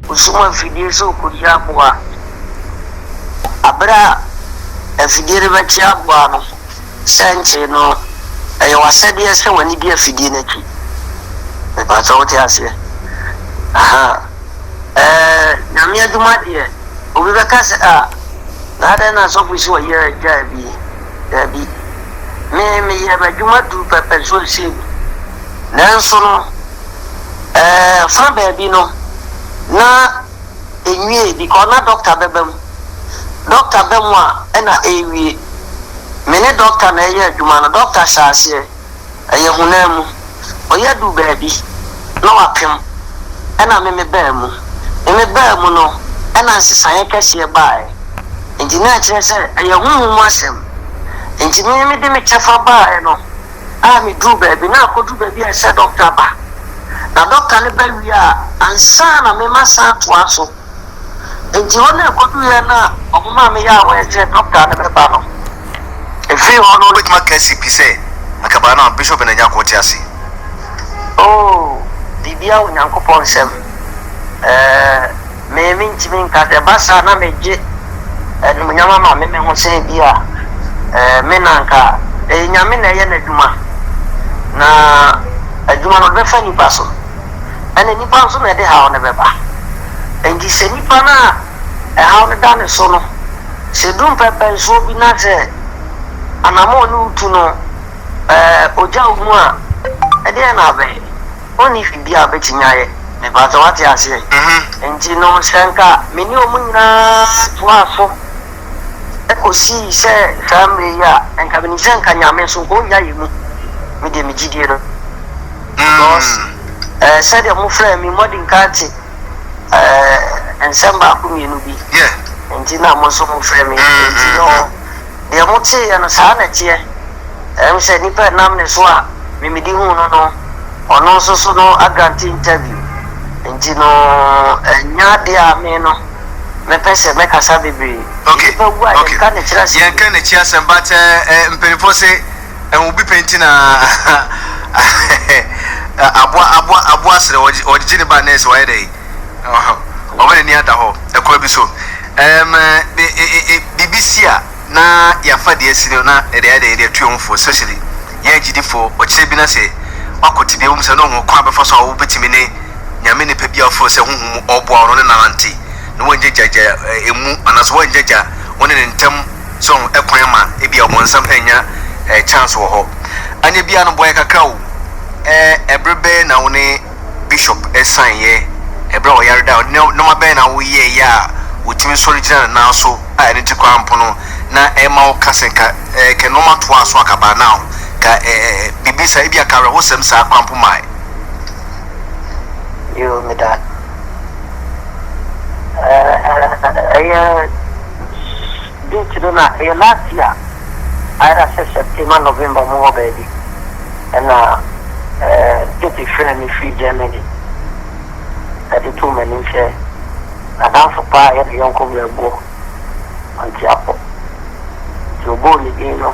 Ɔsum afidie sɛ ɔkɔdi aboa. Aberɛ a afidie no bɛte aboa no sɛnkyee no, ɛyɛ w'asɛdeɛ sɛ w'ani di afidie no akyi. Mepa sɛ wote aseɛ? Ahaa. Ɛɛ, Nyame adwuma deɛ, obi bɛka sɛ, ah, Adɛn na asɔfo yi sɛ wɔyɛ agyaa bi? Dabi, me meyɛɛ m'adwuma duu pɛpɛ nso wɔnsiee me. Nanso no, ɛɛ, fã baabi no, na enwiee because na dɔkta bɛba mu. Dɔkta ba mu a, ɛnna ɛrewie. Me ne dɔkta na ɛreyɛ adwuma no, dɔkta hyɛɛ aseɛ. ɛyɛ honam mu. Ɔyɛ duu baabi na wapem ɛna me me baa mu. Me me baa mu no ɛna nsesaeɛ kɛseɛ baaɛ. Nti na ɛkyerɛ sɛ ɛyɛ honhom mu asɛm. Nti me me de me kyɛfa baaɛ no a me duu baabi na akɔduru baabi a ɛsɛ dɔkta ba. Na dɔkta no ba wie a ansa na me ma san toa so. Enti hɔ no ɛkɔduruiɛ no a wɔmaa me yaawaɛ sɛ dɔkta no bɛba no, ɛfirii hɔ no. Wobɛtumi aka asi pi sɛ anka baa no a Bishop Ben Agyarko te ase. Oo, biribiara wɔ Onyankopɔn nsam. Ɛɛ, me mentumi nka sɛ ɛba saa a na megye animuonyam ama me me ho sɛ ebia ɛɛ, me na anka ɛyɛ Nyame na ɛyɛ n'adwuma, na adwuma no ɔde bɛfa nnipa so. ɛna nnipa nso na ɛde haw no bɛba. Enti sɛ nnipa no a ɛhaw no da ne so no, sɛ ɛduru mpɛmpɛnsoɔ bi na sɛ anammɔn ne wo tu no ɔgya wo mu a, ɛdeɛn na abɛyɛ? Ɔnni biribi a ɔbɛtumi ayɛ. Mepaatɔ wate aseɛ? Enti nom sɛ nka me ne wɔn nyinaa toaa so. kɔsii sɛ saa mmerɛ yi a nka menim sɛ nka Nyame nso nka ɔnnya yɛ mu me deɛ me gyidie no because eh, sɛdeɛ mo frɛ me mmɔden ka te eh, nsɛm baako mmienu bi nti na mo nso mo frɛ me nti no deɛ mo teeɛ no saa na ɛteɛ ɛm sɛ nnipa ɛnam ne so a memedi hu no no ɔno nso so no agrante interview nti no ɛnya adeɛ a me no Mepɛ sɛ mɛ kasa bebree. Okay. Nipa wu a yɛn ka ne kyi asɛm. Yɛn ka ne kyi asɛm but eh, mpanyinfoɔ se ɛho bi pɛ nti na aboa aboa aboa serɛ wɔde gye ne ba nɛɛse wayɛ dɛ ɔma n'ani ada hɔ ɛkwan bi so ɛm eh, biribi si a. na yɛafa deɛ asi no na yɛde ayɛ dɛ yɛde atu yɛn ho fo especially yɛn agyidifoɔ, ɔkyerɛ bi na sɛ wakɔ tebea bi mu saa na ɔhu kwan a bɛfa so a wobɛtumi ne Nyame nipa bi a wofrɛ no sɛ honhom mu ɔɔboa wo no ne no anante na woangyagya ɛmu anaasɛ woangyagya wo ne no ntam so ho ɛkwan ama ebia ɔbonsam annya chance wɔ hɔ anyɛ biaa no boa yɛ kakra o ɛɛ ɛbere bɛɛ na wo ne Bishop san yɛ ɛberɛ a ɔyare da, nnoɔma bɛn na wo yɛɛyɛ a wotumi sɔre gyina ne nan so a ɛno nti koraa mpo no na ɛmma wo ka sɛ ka ɛɛ ka nnoɔma toaa so anka by now ka ɛɛ biribi saa ebia ka awerɛhosɛm saa koraa mpo mae. Yoo meda ɛɛ ɛyɛ. Dɛn nti no na ɛyɛ last year ayɛ da sɛ September November mu hɔ baabi ɛna eh, Tete frɛɛ me firi Germany ɛde too m'anim sɛ n'adamfo paa yɛ ne yɔnko berɛboɔ Ɔnteapɔ nti ɔbɔɔ ne din no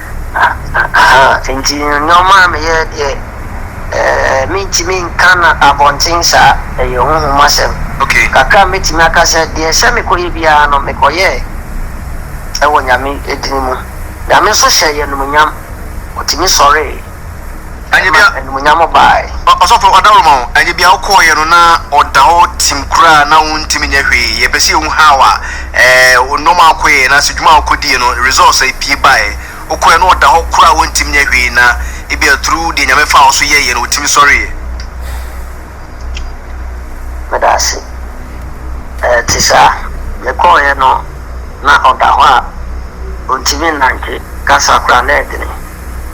Ahaa, nti nnoɔma a meyɛ deɛ, eh, mentumi nka no abɔnten saa, ɛyɛ honhom asɛm. Okay. Kakra a mɛtumi aka sɛ, deɛ ɛsɛ mekɔyɛ biara no, mekɔyɛɛ wɔ Nyame dini mu. Nyame nso hyɛɛ yɛn animuonyam, ɔtumi sɔree. ɛma animuonyam bae. Ɔsɔfo ɔdawuruma o, ɛnyɛ bia wokɔɔeɛ no na ɔda hɔ tim koraa na wontumi nyɛ hwee, yɛpɛ sɛ yɛhu how a wo nnoɔma a wokɔyɛɛ anaasɛ adwuma a wokɔdiiɛ no results a ɛpue baeɛ, wokɔeɛ na ɔda hɔ koraa a wontumi nyɛ hwee na ebia through deɛ Nyame faa wo so yɛeɛ no wotumi sɔreeɛ. Meda ase. Ɛte saa. Mekɔɔeɛ no na ɔda hɔ a ɔntumi nnante, kasa koraa na ɛdene.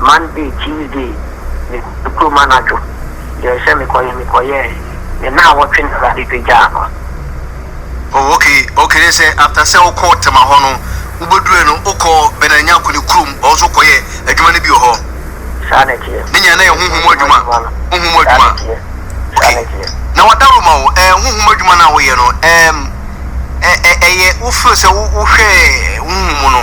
Monday, Tuesday, me kɔ kurom anadwo, yɛɛ sɛ me kɔ yɛ me kɔ yɛɛ, me naawɔtwe na awurade pagyaa no. Oh ok ok ne sɛ after sɛ wo kɔɔ Tema hɔ no wo bɛ duruɛ no wo kɔɔ Bernard Nyarko ne kurom hɔ nso wo kɔ yɛɛ adwuma no bi wɔ hɔ. Saa na ɛteɛ. Ne nyinaa na yɛ honhom mu adwuma honhom mu adwuma ok na wadaworo ma wo ɛɛ honhom mu adwuma no a wo yɛ no ɛɛm ɛ ɛ ɛyɛ wo feel sɛ wo wo hwɛɛ honhom mu no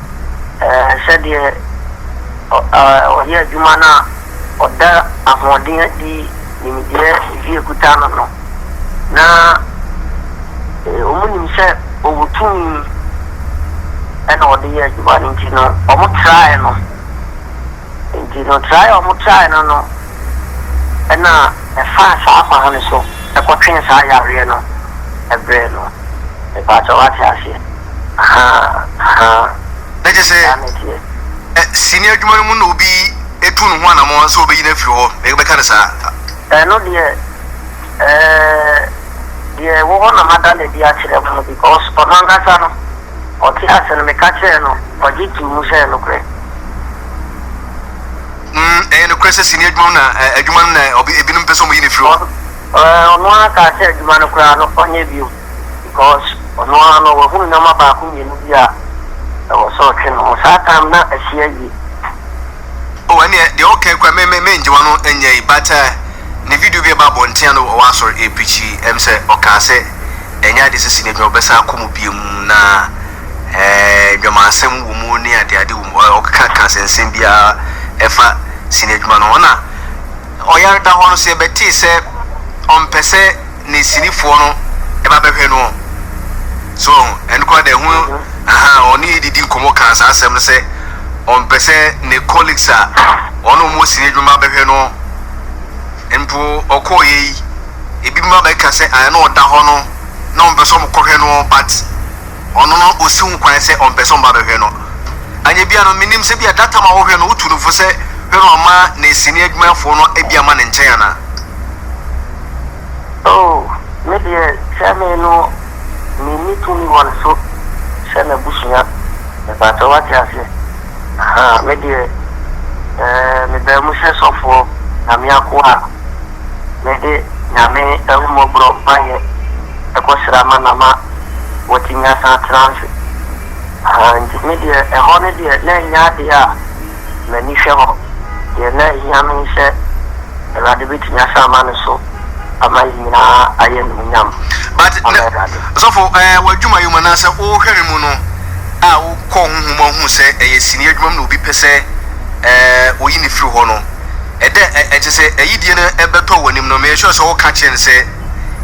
sɛdeɛ ɔyɛ adwuma no a, ɔda ahoɔden adi, nimdeɛ bi ɛkuta no no, na wɔnim sɛ ɔwɔ tumi na ɔde yɛ adwuma no nti no, wɔtraeɛ no. Enti no trae a wɔtrae no no na ɛfaa saa kwan no so kɔtwee saa yareɛ no brɛɛ no. Mepaakyɛw wate aseɛ? Ahaa, ahaa. Na kyerɛ sɛ, Saa na ɛteɛ. ɛ, sini adwuma no mu na obi tu ne ho anammɔn sɛ obeyi no afiri hɔ, na yɛbɛka no saa. Ɛno deɛ, ɛɛ, deɛ ɛwɔ hɔ na mada no adi akyerɛ mo no, because ɔno ankasa no. Ɔtee ase no, meka kyerɛɛ no, ɔgye too mu sɛ ɛyɛ nokorɛ. Mm, ɛyɛ nokorɛ sɛ sini adwuma mu na eh, adwuma no na obi, ebinom pɛ sɛ wɔyi no firi hɔ. Eh, ɔno ara kaa sɛ adwuma no koraa no ɔnyɛ bio because ɔno ara no wahunu nneɛma baako mmienu bi a ɛwɔ sɛ ɔtwe ne ho. Saa time na asi awie. Oh, ɛneɛ deɛ ɔka kura me me me ngye wano nyɛ yi but uh, ne video bi ɛba abɔnten ano ɔwɔ asɔre ɛpikyi ɛm sɛ ɔkaa sɛ Ɛnyɛ ade sisi na adwuma bɛsan akɔ mu bio mu na ɛɛ dwamansɛm wɔ mu ne ade ade wɔ mu. Ɔ ɔkeka ka nsɛnsɛm biara ɛfa sini adwuma no ho. Ɛna ɔyare da hɔ no so yɛbɛtee sɛ ɔmpɛ sɛ ne sinifoɔ no ɛba bɛhwɛ noɔ. So ɔho ɛno koraa deɛ ɛho ahaa ɔne yɛ didi nkɔmɔ kaa saa asɛm no sɛ ɔmpɛ sɛ ne colleagues a ɔne ɔmo wɔ sini adwuma bɛhwɛ noɔ. Mpo ɔkɔɔ yɛ yi. ebinom abɛka sɛ ɛɛ na ɔda hɔ no na ɔmpɛ sɛ ɔmokɔhwɛ no but ɔno no ɔsi ho kwan sɛ ɔmpɛ sɛ ɔmba bɛhwɛ no. Anyɛ bia no menim sɛ bia data ma wohwɛ no wotu no fo sɛ hwɛ no ɔma nɛsini adwumayɛfoɔ no bia ma ne nkyɛn anaa. Oh me deɛ sɛ me no menni tumi wɔ ne so sɛ n'abusua mepakyɛw wate aseɛ ahaa me deɛ ɛɛ mebaa mu sɛ sɔfoɔ Nyame akoa a. Mede Nyame ahummɔborɔ mpaeɛ kɔsra ma na ma wɔtumi asan atena ase. Ahaa, nti me deɛ ɛhɔ no deɛ na ɛnyɛ adeɛ a m'ani hwɛ hɔ. Deɛ na ɛhia me ne sɛ Awurade bɛtumi asan ama ne so ama yɛn nyinaa ayɛ animuonyam But ama nɛ, Awurade. sɔfo eh, w'adwuma yi mu anaasɛ wo hwɛre mu no a wo kɔɔ honhom mu a wohuu sɛ ɛyɛ sini adwuma mu na obi pɛ sɛ eh, oyi no firi hɔ no, Ɛda a ɛte sɛ ayidie no bɛtɔ w'anim no, make sure sɛ woka kyerɛ no sɛ,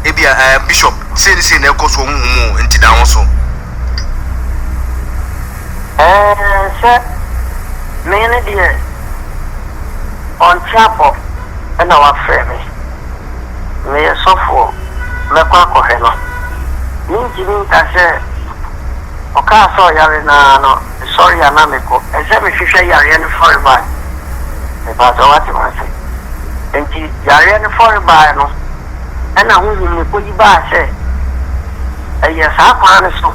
Ebia, eh, Bishop, sei ne sei na ɛrekɔ so wɔ honhom mu o, enti da wo ho so. Eh, sɛ me hene deɛ ɔnte abɔ na wafrɛ me, meyɛ sɔfoɔ, mɛkɔ akɔhwɛ no. Mentumi nka sɛ ɔkaa sɛ ɔyare no ara no. Mesɔre a na mekɔ ɛsɛ mehwehwɛ yareɛ no fɔrebaa mepaa sɛ wate mase nti yareɛ no fɔrebaa no ɛna honhom no kɔyi baa sɛ ɛyɛ saa kwan no so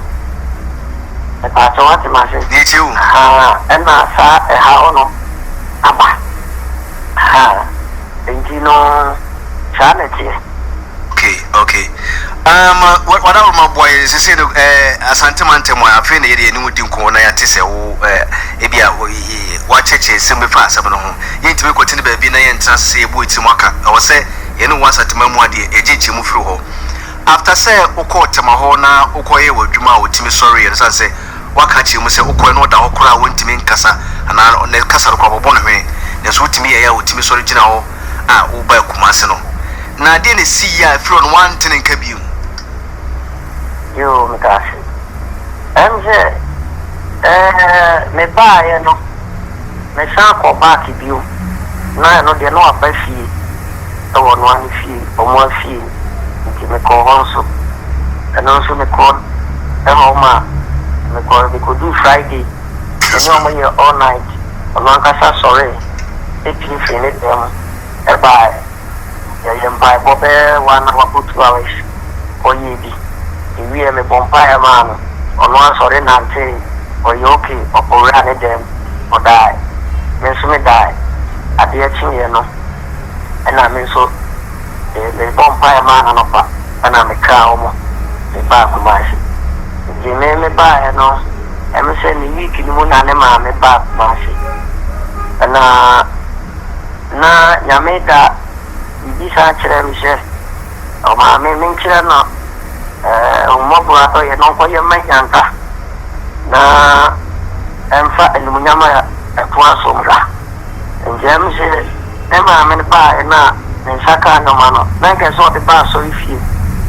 mepaa sɛ wate mase ahaa ɛna saa ɛhaw no aba ahaa. Enti no, saa na ɛteɛ. Okay, okay. Um, wa, wada wo ma boa yɛn sese no, eh, Asante mantam a, afei na yɛde yɛn ne wo di nkɔmmɔ na yɛate sɛ wo, eh, ebi a, wo, eh, wakyerɛkyerɛ nsɛm bi fa asɛm no ho. Yɛntumi nkɔte ne baabi na yɛntena sese yɛbɔ yɛn tirim aka. Ɛwɔ sɛ yɛne wo wɔ Asanteman mu a deɛ yɛgye nkyɛmu firi hɔ. After sɛ wokɔɔ Tema hɔ na wokɔyɛɛ w'adwuma a wotumi sɔreeɛ no, sane sɛ Woaka akyerɛ mu sɛ wokɔe na ɔda hɔ koraa a ontumi nkasa anaa ne kasa no koraa wɔbɔ no hwene, nanso wotumi yɛe a otumi sɔre gyina hɔ a wobaa Kumasi no. Na adeɛn na esii a ɛfiri hɔ no woante ne nka bio? Yoo, meda ase. Ɛne sɛ, ɛɛ, mebaaeɛ no, mesan kɔɔ back bio, na ɛno deɛ na waba fie wɔ ɔnoa ne fie, wɔn afie. Enti mekɔɔ hɔ nso. Ɛno nso mekɔɔ hɔ ma mekɔɔ mekɔduu Friday, me ne wɔn yɛɛ all night. Ɔno ankasa sɔree pue firii ne dan mu baeɛ. Yɛyɛɛ mpaebɔ bɛyɛ one hour or two hours, ɔyɛɛ bi. Mewieeɛ mebɔɔ mpaeɛ maa no, ɔno ara sɔre nantee, ɔyɛɛ okay, ɔkɔwuraa ne dan mu, ɔdaeɛ. Me nso medaeɛ. Adeɛ kyeeɛ no na me nso. Mebɔɔ mpaeɛ maa no anɔpa ɛna metwaa wɔn de baa Kumasi. Nti me mebaaeɛ no ɛme sɛ ne week no mu na ne maame baa Kumasi. Ɛna na Nyame da biribi saa kyerɛ me sɛ ɔmaa me menkyerɛ no ahummɔborɔ adɔyɛ na ɔnkɔyɛ mma Nyanka na ɛmfa animuonyam a ɛtoa so mmra. Nti ɛme sɛ Ne maame no baa no a ne nsa kaa nnoɔma no, na anka ɛsɛ sɛ ɔde ba asɔrefie.